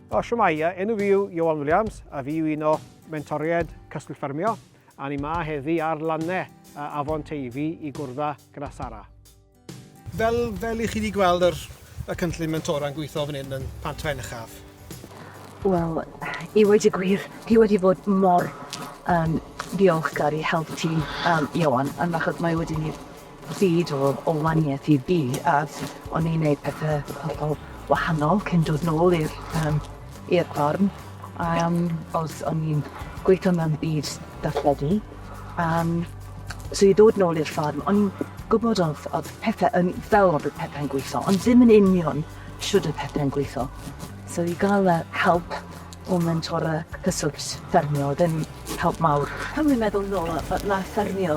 O, shwmae, enw fi yw Ioan Williams a fi yw un o mentoriaid Cysgll Ffermio a ni ma heddi ar lanne Afon Teifi i gwrdda gyda Sara. Fel, fel i chi wedi gweld yr, y cynllun mentora'n gweithio fan hyn yn Pant Pen Uchaf. Wel, i wedi gwir, i wedi bod mor um, diolchgar i help ti, um, Ioan, yn achos mae wedi ni Byd o o wanieth i fi as o'n i'n neud pethe hollol wahanol cyn dod nôl i'r yym i'r ffarm a yym os o'n i'n gweitho mewn byd darlledu yym so i ddod nôl i'r ffarm o'n i'n gwbod o'dd o'dd pethe yn fel o'dd y pethe'n gwitho ond ddim yn union shwd y pethe'n gwitho. So i ga'l y help O mentor a cyswllt ffermio oedd yn help mawr. Pan fi'n meddwl nôl, mae ffermio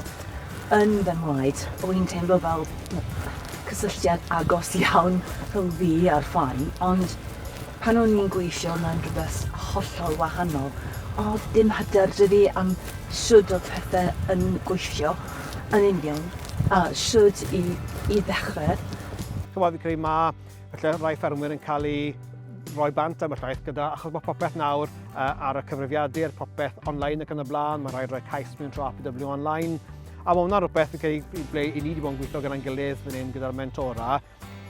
yn fy ngwaed. O'n i'n teimlo fel cysylltiad agos iawn rhwng fi a'r ffarm, ond pan o'n i'n gweithio mewn rhywbeth hollol wahanol, oedd dim hyder da fi am shwd oedd pethau yn gweithio yn union, a shwd i i ddechrau. Chimod, fi'n credu ma' Felly rai ffermwyr yn cael eu rhoi bant am y llaeth gyda, achos mae popeth nawr uh, ar y cyfrifiadur, popeth online ac yn y blaen, mae rhaid rhoi cais mewn tro APW online, a mae hwnna rhywbeth okay, i ble i ni wedi bod yn gweithio gyda'n gilydd fan hyn gyda'r mentora,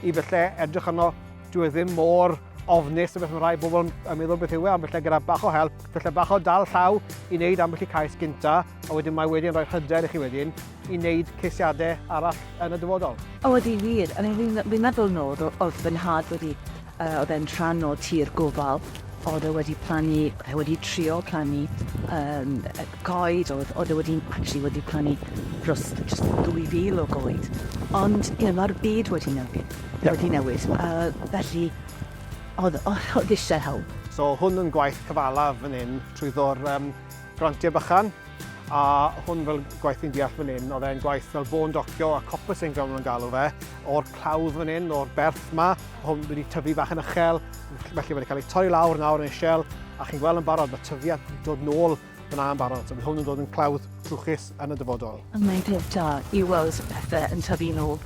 i felly edrych arno, dwi e ddim mor ofnus o beth mae rhai bobl yn meddwl beth yw e, ond felly gyda bach o help, felly bach o dal llaw i wneud ambell i cais gynta, A wedyn mae wedi yn rhoi hyder i chi wedyn i wneud ceisiadau arall yn y dyfodol. O ydy wir, I mean fi'n meddwl nôl oedd fy nhad wedi, uh, oedd e'n rhan o tir gofal, oedd e wedi plannu, oedd e wedi trio plannu um, coed, oedd, oedd e wedi, actually wedi plannu dros, dros 2000 o goed. Ond, you know, mae'r byd wedi newid, yeah. wedi newid, uh, felly oedd, oedd eisiau help. So hwn yn gwaith cyfalaf fan hyn trwy ddo'r um, Grantiau bychan, a hwn fel gwaith ni'n deall fan hyn, oedd e'n gwaith fel bôn docio a copper sy'n gael nhw'n galw fe, o'r clawdd fan hyn, o'r berth ma, hwn wedi tyfu bach yn uchel, felly mae wedi cael ei torri lawr nawr yn eisiau, a chi'n gweld yn barod, mae tyfiant yn dod nôl yn a'n barod, so bydd hwn yn dod yn clawdd trwchus yn y dyfodol. A mae'n peth da i weld pethau yn tyfu nôl.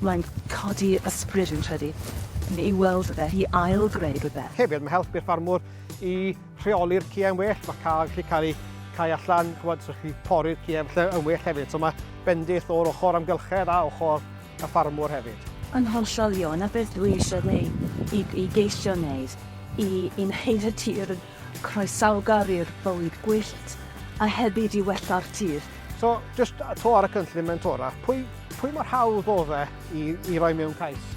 Mae'n codi ysbryd, fi'n credu, i weld fe, i ail-greu rhywbeth. Hefyd, mae help i'r ffarmwr i rheoli'r ci yn well, mae cael gallu cael ei cau allan, chymod, so chi pori'r ci efallai yn well hefyd. So mae bendith o'r ochr amgylchedd a ochr y ffarmwr hefyd. Yn hollol ie, 'na beth dwi eisiau wneud, i i geisio wneud, i i wneud y tir yn croesawgar i'r bywyd gwyllt, a hefyd i wella'r tir. So, jyst 'to ar y cynllun mentora, pwy pwy mor hawdd oedd e i, i roi mewn cais.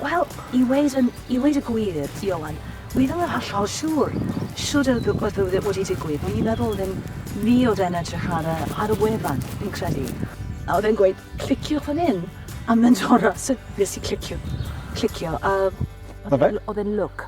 Wel, i weid, yn, i weid y gwir, Ioan, wi ddim yn hollol siŵr siwr y rhywbeth oedd e wedi digwydd, ond i'n meddwl ddim ni oedd e'n edrych ar y, ar y wefan, fi'n credu. A oedd e'n gweud, clicio fan hyn, a mynd o'r so nes i clicio, clicio, a oedd e'n look.